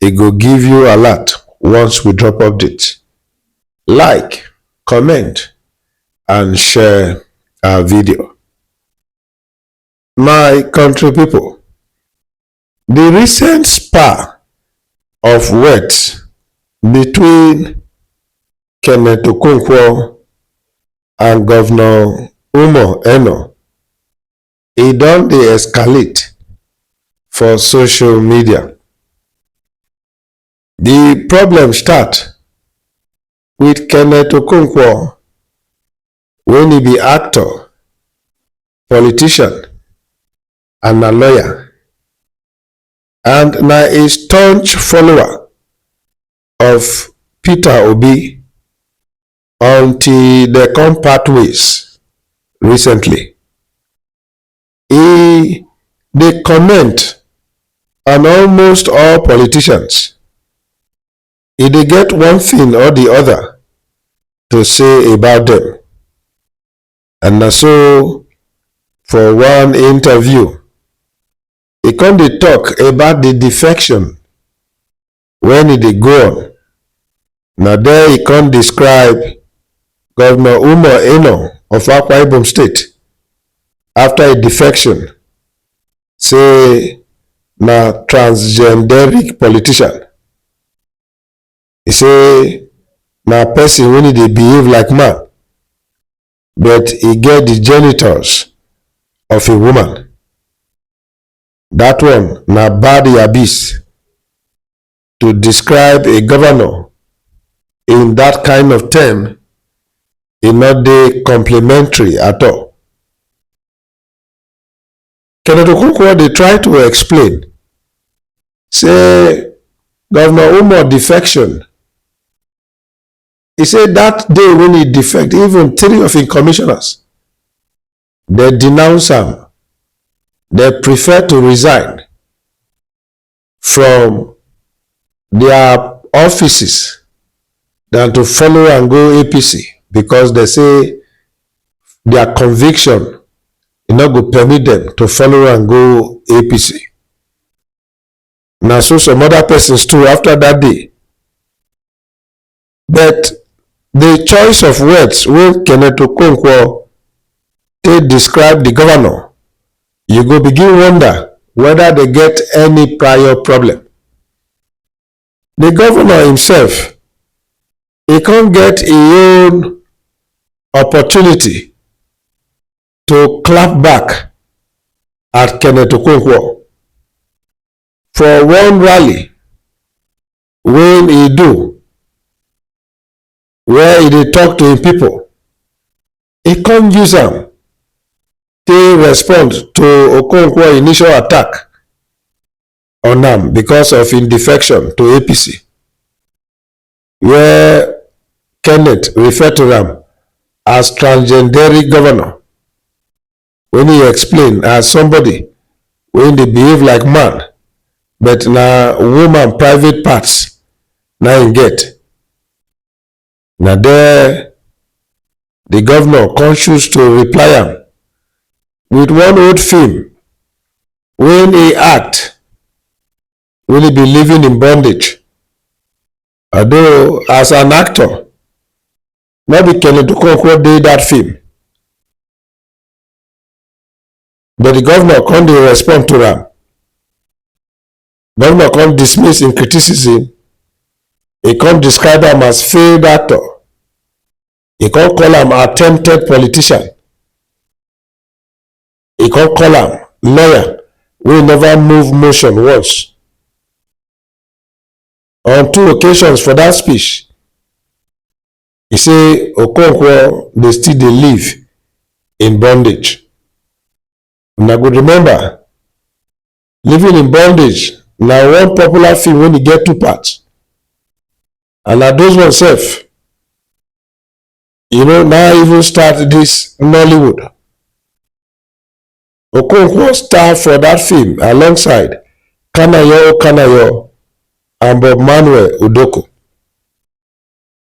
e go give you alert once we drop update. Like, comment and share our video. My country people, the recent spa of words between Kenneth Okonkwo and Governor Umo Eno e don dey escalate for social media. Di problem start wit Kenneth Okonkwo wen e be actor, politician and na lawyer and na a staunch follower of Peter Obi until dem come part ways recently. E dey comment on almost all politicians. E dey get one thing or the other to say about them. And na so for one interview, e come dey talk about the defection wen e dey go on, na there e come describe Governor Umar Eno of Akwa Ibom State after e defection say na transgenderic politician. E say na person wey dey behave like man but e get di genitals of a woman. That one na bad yabis to describe a governor in that kind of term e no dey complementary at all. Kenneth Okonkwo dey try to explain say Governor Umar defection e say that day when he defect even three of im commissioners dem denounce am dem prefer to resign from their offices than to follow and go apc because they say their conviction e no go permit them to follow and go apc na so some other persons too after that day but di choice of words wey kenneth okonkwo take describe di govnor you go begin wonder weda dem get any prior problem. di govnor imsef e kon get e own opportunity to clap back at kenneth okonkwo for one rally when he do where he dey talk to him people he come use am take respond to okonkwo initial attack on am because of him defection to apc where kenneth refer to am as transgenderic governor wen e explain as somebody wey dey behave like man but na woman private parts na im get. Na there di govnor come choose to reply am wit one old feem wen e act wen e be living in bondage although as an actor no be Kenny Okonkwo dey dat feem. but di govnor come dey respond to am govnor come dismiss im criticism e come describe am as failed actor e come call am attempted politician e come call am lawyer wey never move motion once on two occasions for dat speech e say okonkwo dey still dey live in bondage una go remember living in bondage na one popular film wey e get two parts and na those ones sef you know na even start this nollywood okonkwo star for that film alongside kanayo kanayo and bob manuel udoko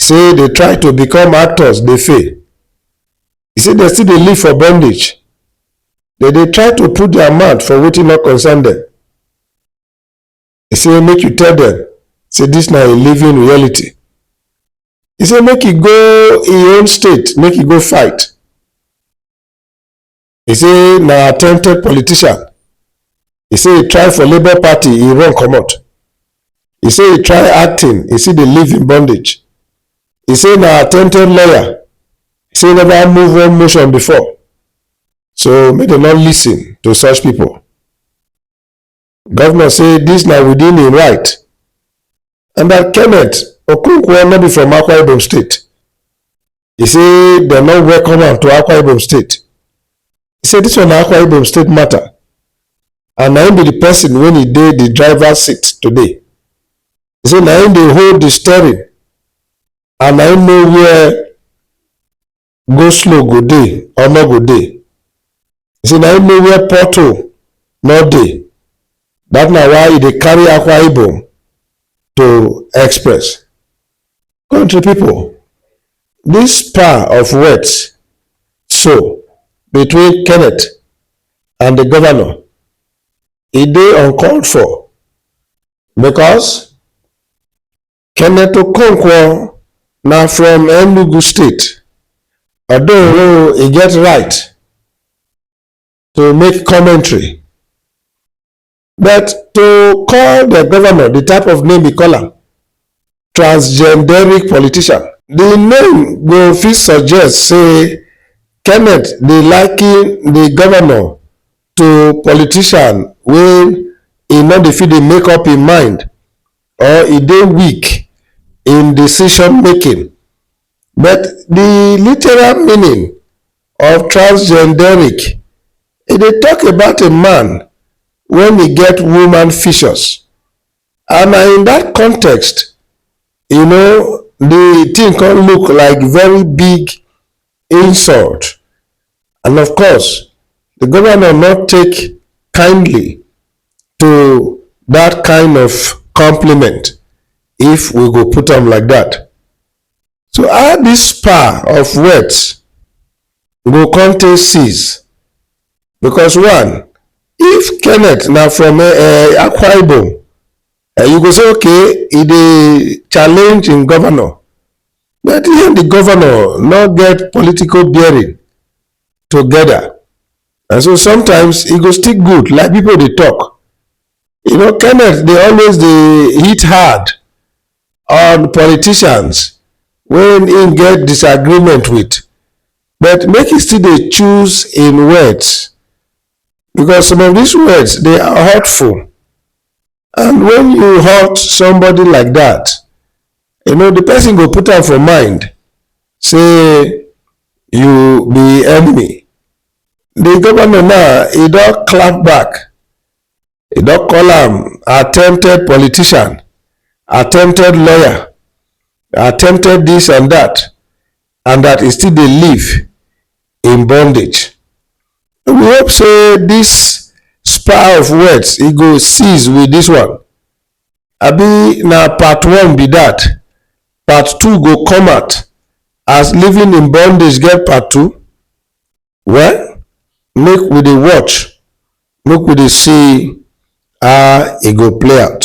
say dey try to become actors dey fail e say dem still dey live for bondage dem dey try to put their mouth for wetin no concern dem e say make you tell dem say dis na a living reality e say make e go im own state make e go fight e say na attempted politician e say e try for labour party e run comot e say e try acting e still dey live in bondage e say na attempted lawyer e say e never move one motion before so make dem no listen to such people. Governor say this na within im right and that Kenneth Okonkwo no be from Akwa Ibom State. He say dem no welcome am to Akwa Ibom State. He say this one na Akwa Ibom State matter and na him be the person when he dey the driver seat today. He say na him dey hold the steering and na him know where go slow go dey or no go dey e say na him know where pothole no dey that na why e dey carry akwa ibom to express country people this power of words so between kenneth and the governor e dey uncalled for because Kenneth Okonkwo na from Enugu State. Although he get right to make commentary, but to call the governor the type of name he call am, transgenderic politician. The name go fit suggest say Kenneth dey liken the governor to politician wey e no dey fit dey make up im mind or e dey weak in decision-making, but di literal meaning of transgenderic, e dey tok about a man wen e get woman features and na in dat context you know di tin come look like very big insult and of course di govnor no take kindly to dat kind of compliment if we go put am like dat. So how dis spa of words go come take cease because one if kenneth na from um akwa ibom And you go say, okay, e dey challenge im governor. But he and the governor no get political bearing together. And so sometimes e go still good, like people dey talk. You know, Kenneth dey always dey hit hard on politicians when im get disagreement with. But make e still dey choose im words because some of these words they are hurtful and when you hurt somebody like that you know the person go put am for mind say you be enemy the governor now he don clap back e don call am attempted politician attempted lawyer attempted this and that and that e still dey live in bondage we hope say this spa of words e go cease with this one abi na part one be that part two go come out as living in bondage get part two Well, make we dey watch, make we dey see how e go play out.